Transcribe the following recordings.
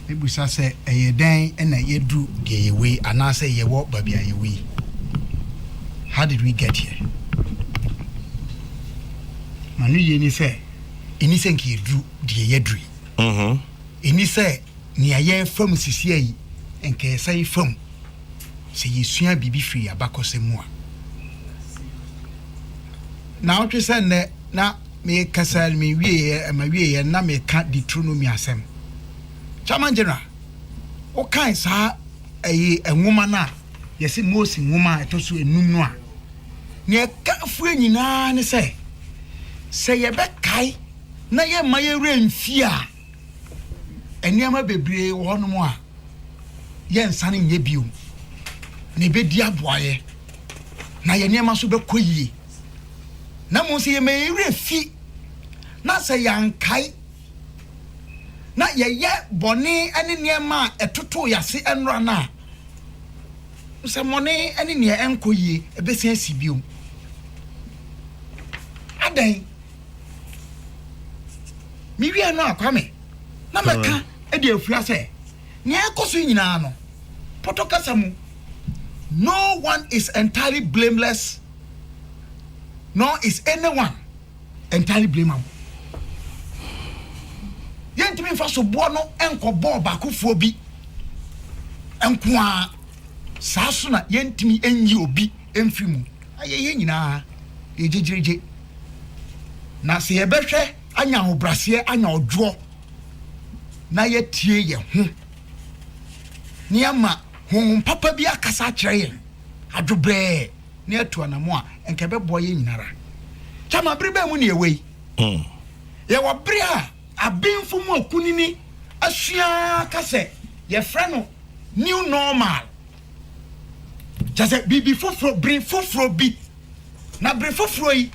Mebisa sɛ, ɛyɛ dɛn na yɛadu deɛ yɛwɔ yi anaasɛ yɛwɔ baabi a yɛwɔ yi? How did we get here? Ma no yie ni sɛ, ɛni sɛ nka yɛduru deɛ yɛaduru yi. Mm-hmm. Ɛni sɛ nea yɛrefa mu sisia yi nka yɛsa yi fam sɛ yɛsua biribi firi abakɔsɛm mu a. Na wotwe sɛ nnɛ na Mekasa no mewieɛ ma wieɛ no na meka Deuteronomy asɛm. Chairman General, wo kae saa ɛyi nwoma no a yɛse Mose nwoma a ɛtɔ so enum no a, nea ɛka fue nyinaa ne sɛ, sɛ yɛbɛkae na yɛmma yɛn werɛ mfi a, nneɛma bebree wɔ hɔnom a yɛnsane nyɛ bio, na ɛbɛdi aboayɛ, na yɛn nneɛma nso bɛkɔ yie. na mmom sɛ yɛma yɛn werɛ fi, na sɛ yɛankae, na yɛyɛ bɔne ne nneɛma a ɛtotoo yɛn ase nnora no a, nsɛmmɔne ne nea ɛnkɔ yie ɛbɛsan asi bio. Adɛn? Mewie no a, Kwame, na mɛka de afua sɛ, nea ɛkɔ so nyinaa no, Potokasa mu, no one is entirely blameless nor is anyone entirely blameable. Yɛntumi nfa soboɔ no nkɔbɔɔ baakofoɔ bi nko ara, saa so na yɛntumi nyi obi mfiri mu. Ayɛ yɛn nyinaa yɛ gyegyeregye. Na sɛ yɛbɛhwɛ anya ahobraseɛ, anya ɔdwoɔ, na yɛatie yɛn ho, na yɛama honhom papa bi akasa akyerɛ yɛn adwobrɛɛ, na yɛatu anamɔ a, nka ɛbɛboa yɛn nyinara. Kyama, bere bɛn mu na yɛwɔ yi? Hmm. Yɛwɔ bere a abenfo mu akunini asua ka sɛ yɛfrɛ no new normal. Kyɛ sɛ biribi foforo, bere foforo bi. Na bere foforo yi,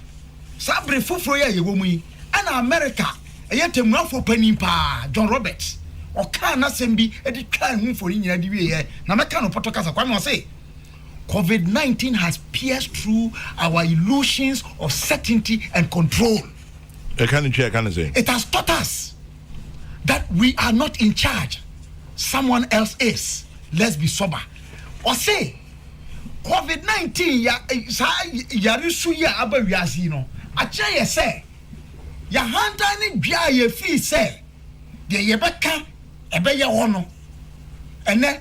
saa bere foforo yi a yɛwɔ mu yi, ɛna Amerika ɛyɛ temuafoɔ panin paa, John Roberts, ɔkaa n'asɛm bi de twaa ho mfoni nyinaa de wieɛ, na mɛka no pɔtɔ kasa kwa no ɔse, Covid nineteen has pierced through our illusions of certainty and control. It has taught us that we are not in charge, someone else is. Let's be sober. Or say, COVID 19 ya yarisu ya aba wiase no akyerɛ yɛ sɛ yɛhantan ne dua a yɛfii sɛ deɛ yɛbɛka ɛbɛyɛ hɔ no ɛnɛ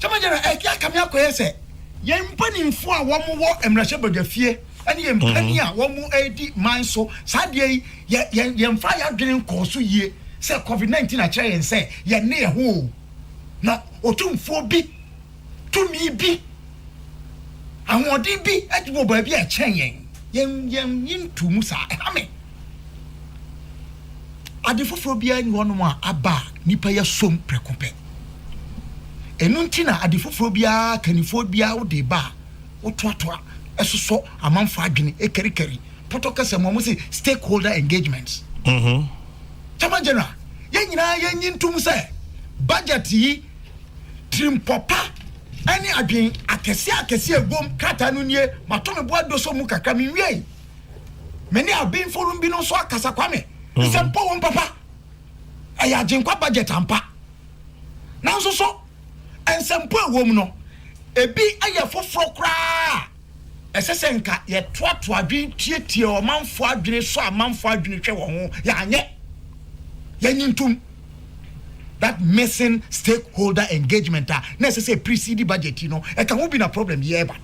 gyamajara ɛkɛ eh, akame akɔyɛ sɛ yɛn mpanimfoɔ a wɔn wɔ mmarahyɛ badwafie ɛne yɛn mhm. mpanyin a wɔn redi man so saa deɛ yi yɛ yɛn yɛn fa yɛ adwene nkɔɔ so yie sɛ covid nineteen akyerɛ yɛn sɛ yɛn ne yɛn ho na otumfuo bi. tumi bi, ahoɔden bi wɔ baabi a ɛkyɛn yɛn. Yɛn yɛn yɛntu mu saa. Ɛha me. Ade foforɔ biara ni hɔnom a aba a nipa yɛ som prɛko pɛ. Ɛno nti na ade foforɔ biara kannifoɔ biara wode ba a wotoatoa ɛsosɔ amanfoɔ adwene ɛkarikari pɔtɔ kɛsɛ mu a wɔsi stakeholder engagements. Chairman General, yɛn nyinaa yɛnyi ntom sɛ budget yi Tirimpɔ pa ne adwen akɛseɛ akɛseɛ a ɛwom krataa no nie, mato me bo adosɔ mu kakra, menwiei. Me ne Aben Forum binom nso akasa, Kwame, mhm. nsɛmpɔ wom papa. Ɛyɛ agyenkwa budget ampa. Nanso so, nsɛmpɔ ɛwom no, ebi yɛ foforɔ koraa. Ɛsɛ sɛ nka yɛtoatoa adwene tiatia ɔmanfoɔ adwene sɔ amanfoɔ adwene hwɛ wɔ ho, yɛanyɛ, yɛnye ntom. That missing stakeholder engagement a na ɛsɛ sɛ ɛprecede budget yi no, ɛka ho bi na problem yi ɛreba.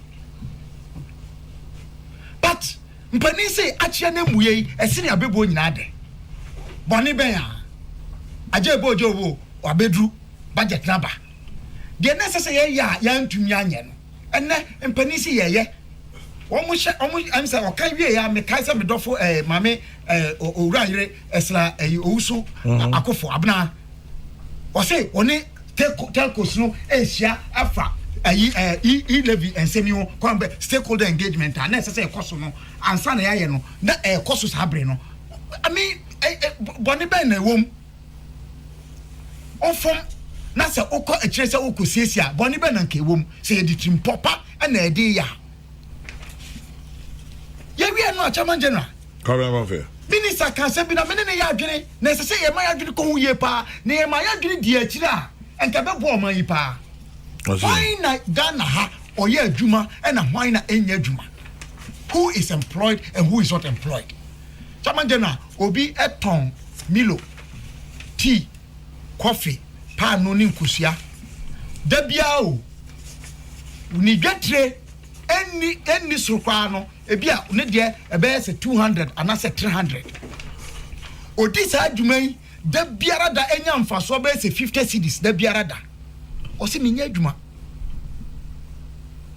But mpanin sei akyea no ammuiɛ yi, ɛsene abɛbuo nyinaa dɛ? Bɔne bɛn a agya ɛbɔ ogya owuo, wabɛduru, budget no aba. Deɛ na ɛsɛ sɛ yɛyɛ a yɛantumi anyɛ no, Ɛnɛ mpanin si yɛyɛ wɔn hyɛ wɔn ɛm sɛ ɔka wie ya mekae sɛ medɔfo ɛɛ eh, maame ɛɛ eh, owura yere ɛsra eh, ɛyi eh, owusu mhm. akofo abena ɔse ɔne telcos no ɛhyia afa ɛyi ɛɛ e levy nsɛm yi ho kwan bɛ stakeholder engagement a na ɛsɛ sɛ ɛkɔ so no ansa na yɛayɛ no na ɛkɔ so saa bere no ami bɔne bɛn na ɛwɔ mu. ɔfam na sɛ wokɔ akyire sɛ wokɔsiesie a, bɔne bɛ na nka ɛwɔ mu sɛ yɛde tirimpɔ pa na ɛde yɛ a? Yɛwie no a, Chairman General, Minister ka asɛm bi na mene ne yɛ adwene na ɛsɛ sɛ yɛma yɛ adwene kɔ ho yie paa na yɛma yɛ adwene di akyire a, nka ɛbɛboa ɔman yi paa. Hwan na Ghana ha ɔyɛ adwuma ɛna hwan na ɛnyɛ adwuma? Who is employed and who is not employed? Chairman General, Obi tɔn Milo, tii, kɔfe, paanoo ne nkosua da biara o. Ne dwetire nni nni soro koraa no, ebia ne deɛ ɛbɛyɛ sɛ two hundred anaasɛ three hundred. Odi saa dwuma yi da biara da, enya mfasoɔ bɛyɛ sɛ fifty cedis da biara da. Ɔse menyɛ adwuma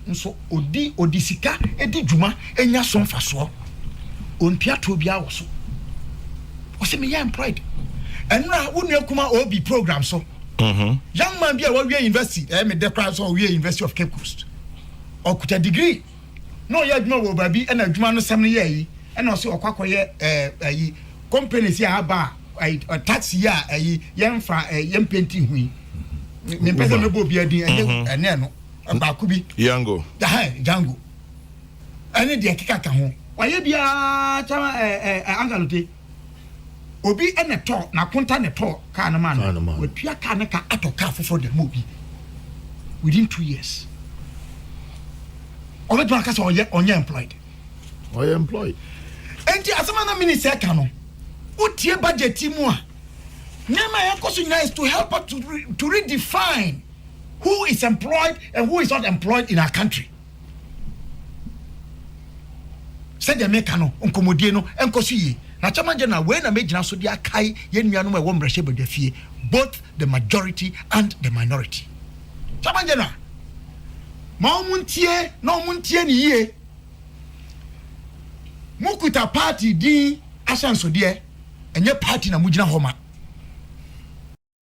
nso odi odi sika edi dwuma enya so mfasoɔ ontua toɔ biara wɔ so ɔse meyɛ employed ɛnura wo nua kuma obi program so mm-hmm. young man bi a wawie university ɛyɛ eh, me dɛ koraa sɛ ɔwie university of cape coast ɔkuta degree na ɔyɛ adwuma wɔ baabi ɛna adwuma no sɛm no yɛ ayi ɛna ɔsɛ ɔkɔ akɔyɛ ɛɛ ayi companies yɛ aba ayi taxi yɛ ayi yɛn fa ɛɛ yɛn penti ho yi ne mpɛ sɛ mɛbɔ obi adin ɛnyɛ mhm. ɛne ɛno ɛbaako bi yango ɛhɛn jango ɛne deɛ keka ka ho wayɛ biara kyɛn ɛɛ ɛɛ angalote. Obi na ɛtɔɔ n'akonta na ɛtɔɔ kaa no maa no. Watua kaa no ka atɔ kaa foforɔ de ama obi within two years. Ɔbɛtumi aka sɛ ɔyɛ ɔnyɛ employed. Ɔyɛ employed. Enti asɛm a na minister ɛka no, wotie budget mu a, nneɛma a ɛkɔ so nyinaa is to help us to, to redefine who is employed and who is not employed in our country. Sɛdeɛ mereka no, nkɔmmɔdie no nkɔ so yie. Na Chairman General, wei na mɛgyina so de akae yɛn nuanom a ɛwɔ mmarahyɛbadwafie, both the majority and the minority. Chairman General, ma wɔn ntie na wɔn ntie no yie. Mokuta party din ahyɛnsodeɛ, ɛnyɛ party na mogyina hɔ ma.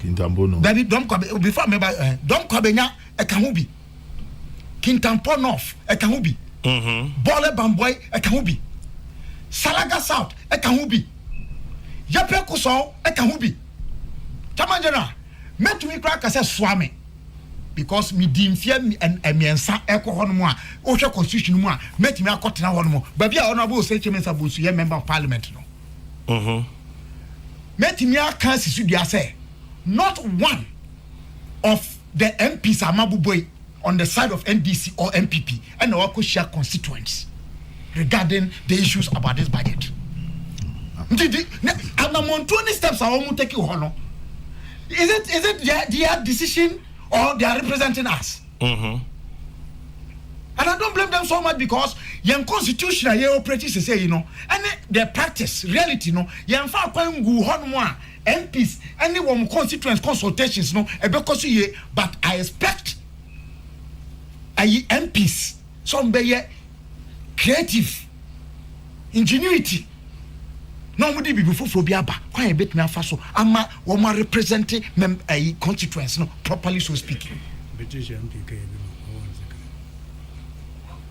Kintampo North. Dabi, Dɔm Kwa, before me ba, eh, Dɔm Kwa Benya, ɛka ho bi. Kintampo North, ɛka ho bi. Mm-hmm. Bɔɔlɛ Bambɔe, ɛka ho bi. Salaga South, ɛka ho bi. Yɛpɛ Kosɔɔ, ɛka ho bi. Chairman General, mɛtumi koraa ka sɛ soa me. Because me di mfeɛ mmiɛnsa ɛkɔ hɔ nom a, wohwɛ constitution mu a, mɛtumi akɔtena hɔ nom. Baabi a Honorable Osei Kyemesa Bonsu yɛ Member of Parliament no. Mɛtumi aka asi so dua sɛ not one of the MPs a mabobɔ yi on the side of NDC or NPP ɛna wakɔhyia constituents regarding the issues about this budget. Nti di na anamontuo ne steps a wɔn take wɔ hɔ no is it is it their their decision or they are representing us? And I don't blame them so much because yɛn constitution a yɛ operate sese yi no ɛne the practice reality no yɛn fa akwan nguu hɔ nom a MPs ɛne wɔn constituents consultations no ɛbɛkɔ so yie but I expect ayi MPs. sɛ wɔbɛyɛ creative ingenuity na wɔde biribi foforɔ bi aba kwan a yɛbɛtumi afa so ama wɔn a represent mem ayi constituents no properly so speaking.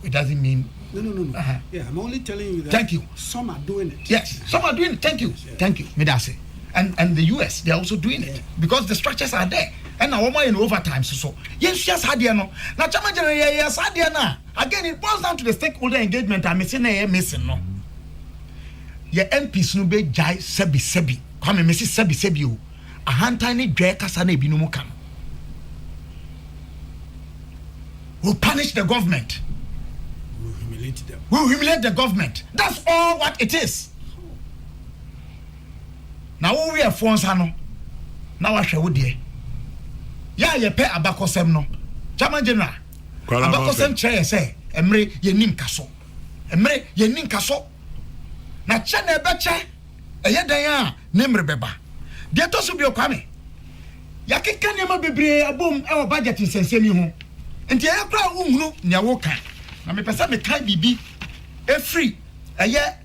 It doesn't mean. No, no, no, no. Uh-huh. Yeah, I'm only telling you that. Thank you. Some are doing it. Yes, some are doing it. Thank you. Thank you. Me, that's it. and and the us they are also doing it because the structures are there ɛna wɔn ayɛ no over time so so yɛn sua saa adeɛ no na kyɛnba gyina yɛ yɛ saa adeɛ no a again it boils down to the stakeholder engagement a mesi na ɛyɛ mesi no yɛ mps no bɛ gyae sɛbi sɛbi kwame mesi sɛbi sɛbi o ahantan ne dwɛ kasa na ebinom ka no will punish the government will humiliate them will humiliate the government that's all what it is. na wo weɛfoɔ nsa no na wahwɛ wo deɛ. Yɛ a yɛpɛ abakɔsɛm no, German General, abakɔsɛm kyerɛ yɛ sɛ mmere yɛnni nkaso. Mmere yɛnni nkaso. Na kyɛ na ɛbɛkyɛ ɛyɛ dɛn a ne mmere bɛba. Deɛ ɛtɔ so bio, Kwame, yɛakeka nneɛma bebree abom wɔ budget nsɛnsɛm yi ho, nti ɛyɛ koraa a wonhunu nea woka. Na mepɛ sɛ mekae biribi firi ɛyɛ.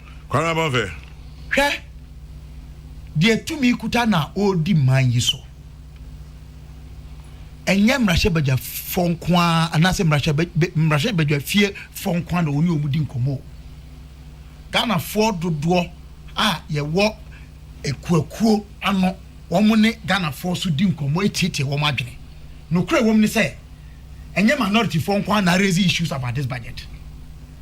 Kwanaba fɛ. Hwɛ deɛ tumi kuta na ɔredi man yi so. Ɛnyɛ mmarahyɛbadwafoɔ nko ara anaasɛ mmarahyɛbadwafie foɔ nko ara na wɔne wɔn di nkɔmmɔ. Ghanafoɔ dodoɔ a yɛwɔ akuakuo ano, wɔn ne Ghanafoɔ so di nkɔmmɔ etiatia wɔn adwene. Nokorɛ wɔ mu ne sɛ, ɛnyɛ minorityfoɔ nko ara na raise issues about this budget.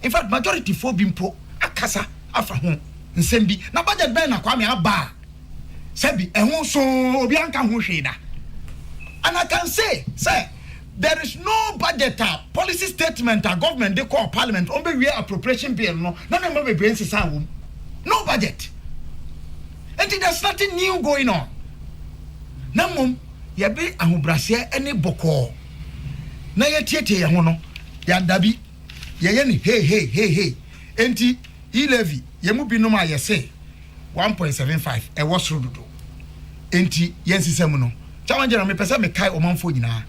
In fact, majority foɔ bi mpo akasa afa ho nsɛm bi. Na budget bɛn na Kwame aba a sɛbi ɛho soo obiara nka ho hwee da. And I can say sɛ there is no budget a policy statement a government de kɔɔ parliament wɔn bɛwie appropriation bill no na nneɛma bebree nsesaa wɔ mu. No budget. Enti there's nothing new going on. Na mmom yɛde ahobrɛaseɛ ne bɔkɔɔ na yɛatietie yɛn ho no, yɛadabi. yɛyɛ no hei hei hei hei. Enti, yi Levi, yɛn mu binom a yɛse one point seven five ɛwɔ soro dodo enti yɛn nsesa mu no, challenge no mepɛ sɛ mekae ɔmanfoɔ nyinaa,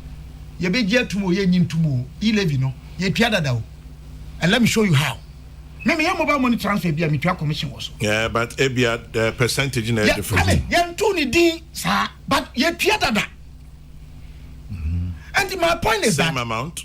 yɛbɛgye atum o, yɛnnye ntum o, yi Levi no, yɛtua dada o. And let me show you how. Me, meyɛ mobile money transfer bi a, metua commission wɔ so. Yeah, but ebia the percentage na ɛyɛ Yɛ, different. ame, yɛntoo ne din saa, but yɛtua dada. Enti, my point is that. Same amount?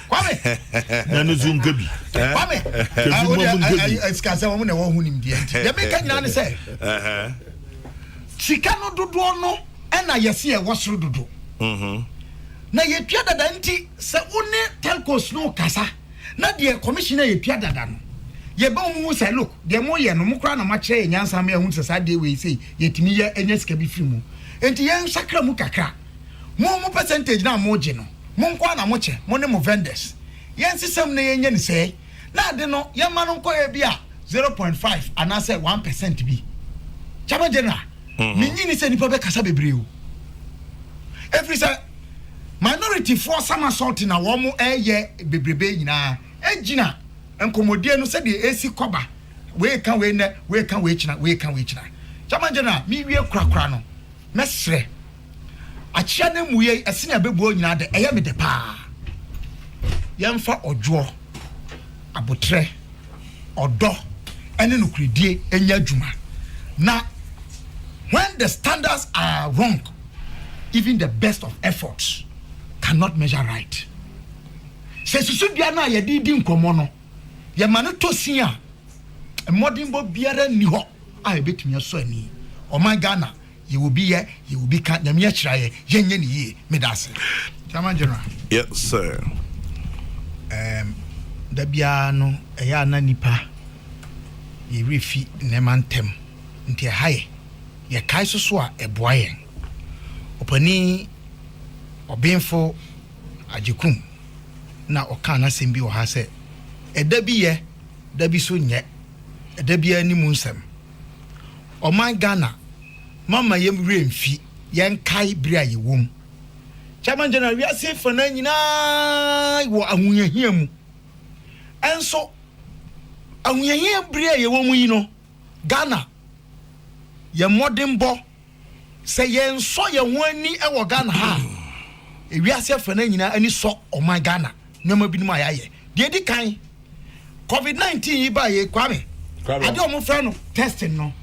kwame na ne so nka bi eh? kwame ah, ebi bɔ mu nka bi ɛsika sɛ wɔn na ɛwɔ ho nimdeɛ nti deɛ mi ka nyinaa ne sɛ sika no dodoɔ no ɛna yɛsi ɛwɔ soro dodo mhm. na yɛtua dada nti sɛ wo ne telcos no kasa na deɛ commissioner yɛtua dada no yɛbɛ wɔn mu sɛ look deɛ mo yɛ no mo kora na mo akyerɛ yɛ nyansa mi ɛho sɛ saa deɛ wei sɛ yɛtumi yɛ ɛnyɛ sika bi firi mu nti yɛn nsakra mu kakra. Mo mo percentage no a mo gye no mo nkoaa na mo kyɛ, mo ne mo vendors. Yɛn nsesam na yɛnyɛ no sɛɛ na ade no yɛn ma no nkɔ ebi a zero point five anaa sɛ one percent bi. Chairman General, me nyi ni sɛ nipa bɛ kasa bebree o. Efiri sɛ minority foɔ sama sɔɔte na wɔn ɛɛyɛ bebrebe nyinaa egyina nkɔmɔdie no sɛdeɛ esi kɔba. Wei ka wei nɛ, wei ka wei kyena, wei ka wei kyena. Chairman General, me wie korakora no mɛ srɛ. Akyea no mmuei, ɛsene a ɛbɛbuo nyinaa de, ɛyɛ me dɛ paa. Yɛmfa ɔdwoɔ, aboterɛ, ɔdɔ, ne nokorɛdie nyɛ adwuma, na when the standards are wrong, even the best of efforts cannot measure right. Sɛ susudua no a yɛde redi nkɔmmɔ no, yɛma no tɔ sin a, mmɔdenbɔ biara nni hɔ a ɛbɛtumi asɔ ani. Ɔman Ghana Yɛ obi yɛ, yɛ obi ka, Nyame akyira yɛ, yɛ nyɛ ne yie, me da ase. German General. Yes sir. Ehm da biara no ɛyɛ a na nipa yɛ werɛ fi nneɛma ntɛm nti ɛha yɛ, yɛ kae so so a ɛboa yɛn. Ɔpanin Ɔbenfo Agyekum na ɔkaa n'asɛm bi wɔ ha sɛ, ɛda bi yɛ, da bi so nyɛ, ɛda biara ni mu nsɛm. Ɔman Ghana, momma yɛn werɛ mfi, yɛnkae bere a yɛwom. Chairman General, wiase afanaa nyinaa wɔ ahohiahia mu. Ɛnso, ahohiahia bere a yɛwɔ mu yi no, Ghana, yɛn mmɔdenbɔ, Sɛ yɛnsɔ yɛn ho ani wɔ Ghana ha a, ewiase afanan nyinaa ani sɔ ɔman Ghana nneɛma binom a yɛayɛ. Deɛ edi kan, covid nineteen yi ba yɛ Kwame, ade a wɔfrɛ no testing no,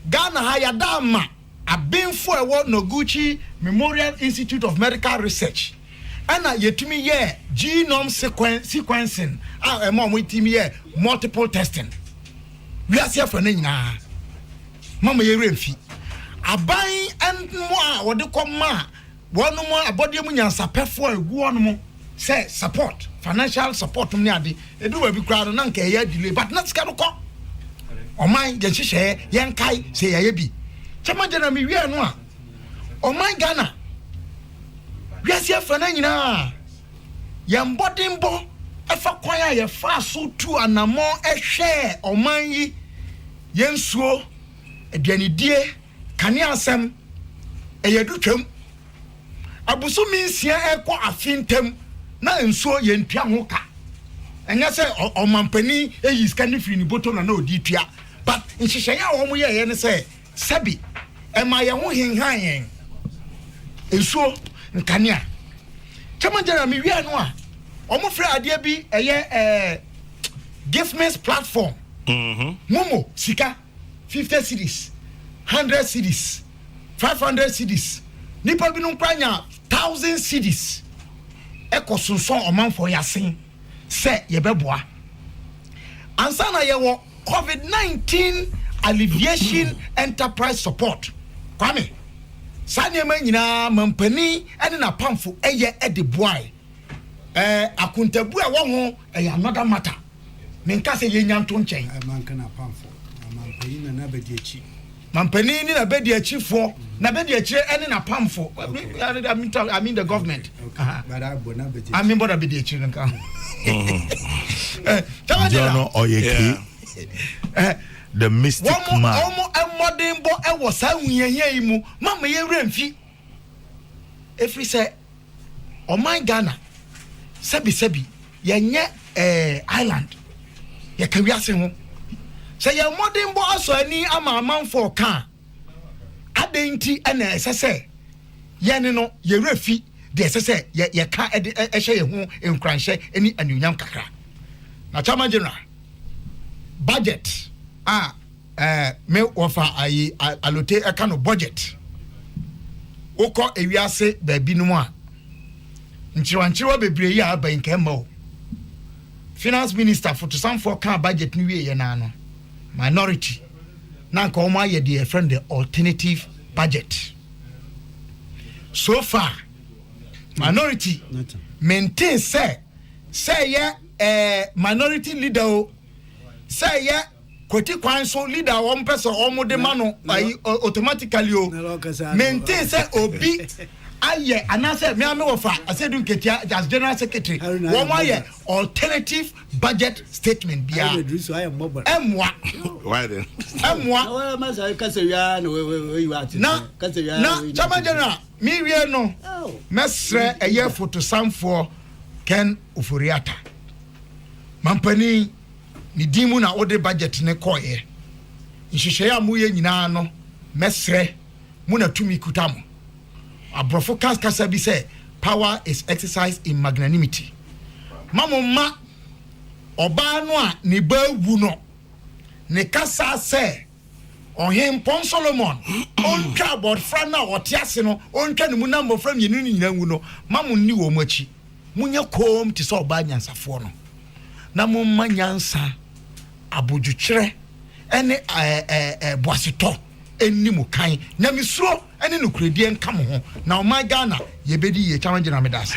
Ghana ha yɛada ama abenfo a ɛwɔ Noguchi Memorial Institute of Medical Research ɛna yɛtumi yɛɛ genome sequencing a ɛma wɔtumi yɛ multiple testing wiase afanan nyinaa. Momma yɛn werɛ mfi aban mmoa a wɔde kɔma wɔnom abɔdeɛ mu nyansapɛfoɔ a ɛgu hɔnom sɛ support, financial support nom ne ade. Ɛduru baabi koraa no, na nka ɛyɛ delay, but na sika no kɔ. Ɔman, yɛn hyehyɛeɛ, yɛnkae sɛ yɛayɛ bi. Chairman General, mewiɛ no a, ɔman Ghana, wiase afra no nyinaa, yɛn mmɔdenbɔ ɛfa kwan a yɛfaa so tu anammɔn ɛhwɛɛ ɔman yi, Yɛnsuo, aduanedie, kane asɛm, ɛyɛ du twam. Abosome nsia rekɔ afe ntam na nsuo yɛntua ho ka. Ɛnyɛ sɛ ɔmampanin yii sika no firii ne bɔtɔ na na ɔde retua but nhyehyɛeɛ a wɔyɛeɛ ne sɛ sɛbe ɛmaa yɛn ho henhan yɛn. Nsuo, nkanea. Chairman General mewie ano a wɔfrɛ adeɛ bi ɛyɛ ɛɛ. gifmix platform mm-hmm. momo sika fifty cities hundred cities five hundred cities nipa binom kora nya thousand cities ɛkɔ sonsɔn ɔmanfoɔ yasen sɛ yɛbɛboa ansa na yɛwɔ covid nineteen alleviation enterprise support kwame saa nneɛma nyinaa mampanin ne n'apamfo ɛyɛ de boae. Ɛɛ akontabu a ɛwɔ ho ɛyɛ another matter. Menka sɛ yɛnya nto nkyɛn. Ɛɛ manka na apamfo, mampanin na n'abadiakyi. Mampanin ne n'abadiakyifoɔ, n'abadiakyire ɛne n'apamfo. Okay. I mean the government. Okay. okay. Uh-huh. But I bɔ n'abadiakyire. I mean bɔ n'abadiakyire nka ho. Jɔn no ɔyɛ kii. The mystic wɔn, man. Wɔn mmɔdenbɔ ɛwɔ saa nhunyahia yi mu, mama yɛ wura mfi. Efiri sɛ. Ɔman Ghana sɛbi sɛbi yɛnyɛ ɛɛ island yɛka wiase ho sɛ yɛn mmɔdenbɔ asɔ ani ama amanfo ɔka a adɛn nti ɛna ɛsɛ sɛ yɛne no yɛwerɛ fi deɛ ɛsɛ sɛ yɛka ɛde ɛhyɛ yɛn ho nkuranhyɛ ne anuonyam kakra na Chairman General budget a Ɛɛ me wɔfa ayi alote ɛka no budget wokɔ ewiase baabi no mu a nkyerewa nkyerewa bebree yɛ aba yi nka ɛmma o finance minister fotosanfoɔ kaa budget no wie yɛ naa no minority na nka wɔn ayɛ deɛ ɛfrɛ no the alternative budget so far minority maintain sɛ sɛ yɛ ɛɛ minority leader o sɛ yɛ. kwati kwan so leader a wɔn pɛ sɛ wɔn de ma no ayi automatically o maintain sɛ obi ayɛ anaasɛ mmea mi wɔ fa asɛdu nketia as general secretary wɔn ayɛ alternative budget statement bia ɛmoa ɛmoa na na chairman general mi wie no mɛsrɛ ɛyɛ fotosanfoɔ kɛn ofori ata mampanin. ne din mu na wode budget no kɔeɛ. Nhyehyɛeɛ a moyɛ nyinaa no, mɛsrɛ mo na tumi kuta mo. Aborɔfo ka kasa bi sɛ Power is exercised in magnanimity. Ma mo mma ɔbaa no a ne ba awu no ne kasa sɛ. Ɔhempɔn Solomon ontwa abɔfra no a ɔte ase no, ontwa ne mu na mmɔfra mmienu no nyinaa nwu no, mma monni wɔn akyi. Monyɛ komm te sɛ ɔbaa nyansafoɔ no, na momma nyansa, abodwokyerɛ ne boasetɔ nni mo kan. Nyamesuro ne nokorɛdie nka mo ho, na ɔman Ghana, yɛbɛdi yie. Kyama Gyina, meda ase.